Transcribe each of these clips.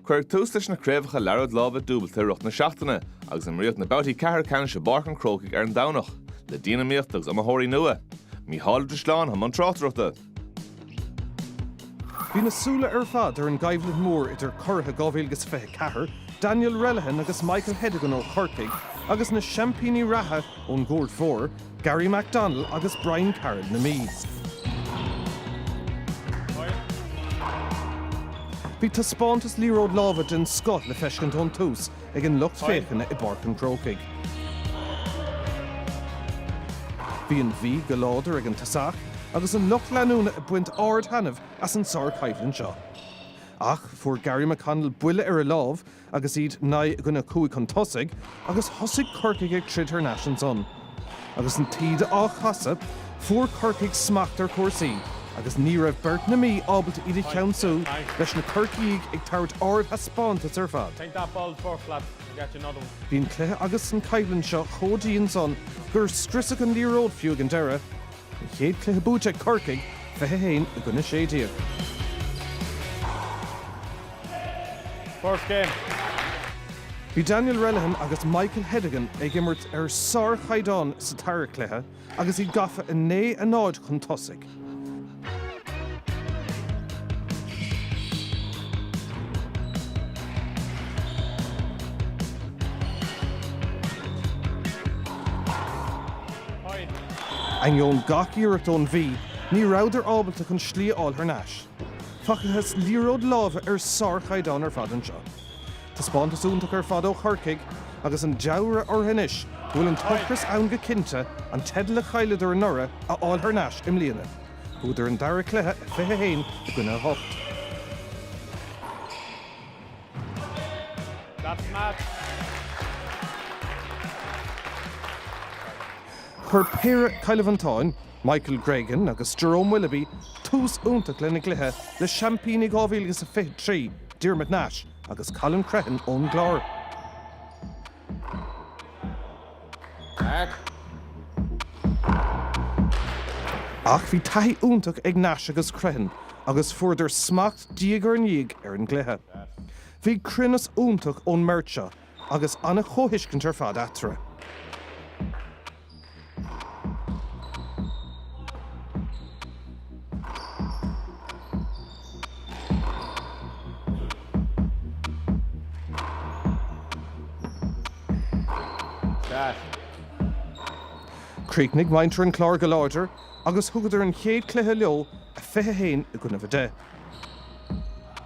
Cuireadh tús leis na craobhacha Liathróid Láimhe Dúbailte i rith na seachtaine agus imríodh na babhtaí ceathrú ceannais i bPáirc an Chrócaigh ar an Domhnach, le dianiomaíocht agus iomaitheoirí nua. Mícheál Ó Drisleáin i mbun tráchtaireachta. Bhí na súile ar fad ar an gcoimhlint mhór idir curaithe 2024, Daniel Relihan agus Michael Hedigan ó Chorcaigh, agus na seaimpíní reatha ón gComórtas Fómhair, Garry McDonnell agus Brian Carroll na Mí. Bhí taispeántas liathróid láimhe den scoth le feiscint ón tús ag an lucht féachana i bPáirc an Chrócaigh. Bhí an Mhí go láidir ag an tosach agus an lucht leanúna ag baint ard-thaitneamh as an sár-choimhlint seo. Ach, fuair Garry McConnell buille ar a lámh agus iad naoi i gcoinne cúig chun tosaigh agus thosaigh Corcaigh ag troid thar n-ais ansan. Agus an taoide á casadh, fuair Corcaigh smacht ar chúrsaí agus ní raibh beirt na Mí ábalta iad a cheansú, leis na Corcaígh ag tabhairt ardthaispeántas ar fad. Bhí an cluiche agus an choimhlint seo chomh dian san gur scriosadh an liathróid fiú ag an deireadh. An chéad chluiche buaite ag Corcaigh, 21 i gcoinne 16. First game. Bhí Daniel Relihan agus Michael Hedigan ag imirt ar sárchaighdeán sa dara cluiche agus iad gafa 9, 0 chun tosaigh. Ainneoin gach iarracht ón Mhí, ní rabhadar ábalta chun slí a fháil thar n-ais. Facthas liathróid láimhe ar sár-chaighdeán ar fad anseo. Taispeántas iontach ar fad ó Chorcaigh agus an dealramh orthu anois go bhfuil an t-ocras ann go cinnte an teideal a chailleadar anuraidh a fháil thar n-ais i mbliana. Bhuadar an dara cluiche, 21 i gcoinne 8. Chuir péire Cill Mhantáin, Michael Gregan agus Jerome Willoughby, tús iontach lena gcluiche le seaimpíní 2023, Diarmuid Nash agus Colin Crehan ón gClár. Ach bhí taithí iontach ag Nash agus Crehan agus fuaireadar smacht diaidh ar ndiaidh ar an gcluiche. Bhí cruinneas iontach ón mbeirt seo agus an-chomhthuiscint ar fad eatarthu. Chríochnaigh muintir an Chláir go láidir agus thugadar an chéad chluiche leo, 21 i gcoinnibh 10.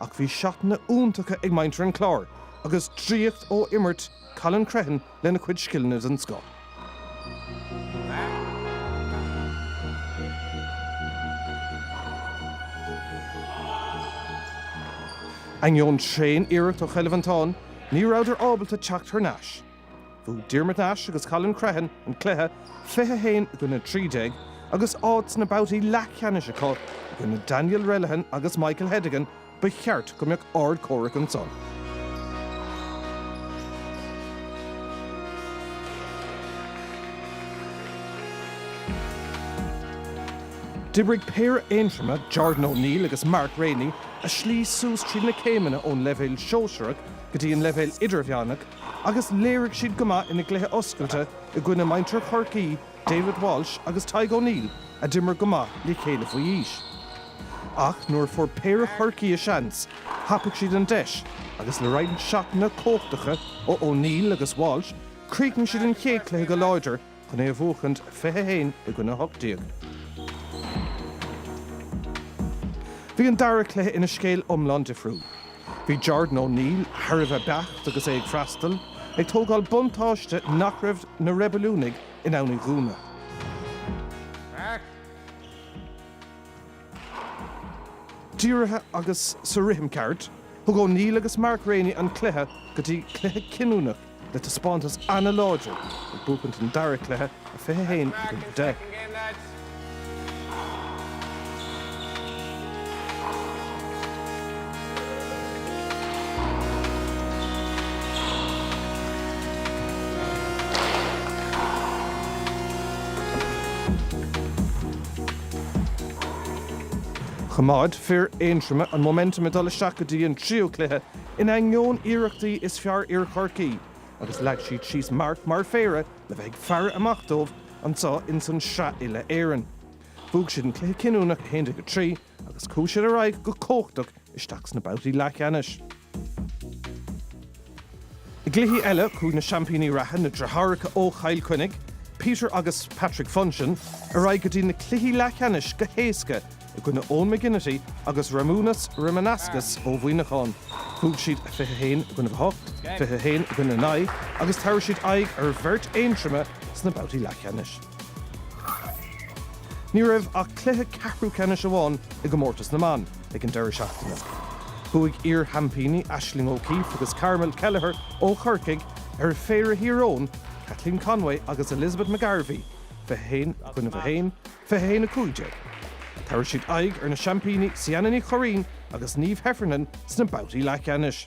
Ach bhí seatanna iontacha ag muintir an Chláir agus draíocht ó imirt Colin Crehan lena chuid scileanna den scoth. Ainneoin tréan iarracht ó Chill Mhantáin, ní rabhadar ábalta teacht thar n-ais. Bhuaigh Diarmuid Nash agus Colin Crehan an cluiche, 21 i gcoinne 13, agus áit sna babhtaí leathcheannais acu i gcoinne Daniel Relihan agus Michael Hedigan, ba cheart go mbeadh ardchomhrac ansan. D'oibrigh péire Aontroma, Jordan O'Neill agus Mark Rainey, a slí suas tríd na céimeanna ón leibhéal sóisearach, go dtí an leibhéal idirmheánach agus léirigh siad go maith ina gcluiche oscailte i gcoinne muintir Chorcaí, David Walsh agus Tadhg O'Neill a d'imir go maith le chéile faoi aois. Ach nuair a fuair péire Chorcaí a seans, thapaigh siad an deis agus le roinnt seatanna cumhachtacha ó O'Neill agus Walsh, críochnaíonn siad an chéad chluiche go láidir chun é a bhuachaint, 21 i gcoinne 18. Bhí an dara cluiche ina scéal iomlán difriúil. Bhí Jordan O'Neill thar a bheith beacht agus é ag freastal, ag tógáil buntáiste nach raibh na reibiliúnaigh in ann a dhúnadh. dírithe agus sa rithim ceart. Thug O'Neill agus Mark Rainey an cluiche go dtí cluiche cinniúnach le taispeántas an-láidir ag buachaint an dara cluiche, 21 i gcoinne 10. Choimeád fir Aontroma an momentum ag dul isteach go dtí an tríú cluiche in ainneoin iarrachtaí is fearr fhir Chorcaí agus leag siad síos marc mar phéire le bheith ag faire amach dóibh anseo ins an Sraith Uile-Éireann. Bhuaigh siad an cluiche cinniúnach 11, 3 agus chuaigh siad ar aghaidh go cumhachtach isteach sna babhtaí leathcheannais. I gcluichí eile, chuaigh na seaimpíní reatha, na deartháireacha ó Chill Chainnigh, Peter agus Patrick Funchion, ar aghaidh go dtí na cluichí leathcheannais go héasca i gcoinne Eoin McGinnity agus Ramunas Ramanauskas ó Mhuineachán. Bhuaigh siad 21 i gcoinne 8, 21 i gcoinne 9 agus tabharfaidh siad aghaidh ar bheirt Aontroma sna babhtaí leathcheannais. Ní raibh ach cluiche ceathrú ceannais amháin i gcomórtas na mban ag an deireadh seachtaine. Bhuaigh iar-sheaimpíní Aisling O'Keeffe agus Carmel Kelleher ó Chorcaigh ar phéire Thír Eoghain, Caitlín Conway agus Elizabeth McGarvey, 21, 1, 21, 15. Tabharfaidh siad aghaidh ar na seaimpíní Ciana Ní Churraoin agus Niamh Heffernan sna babhtaí leathcheannais.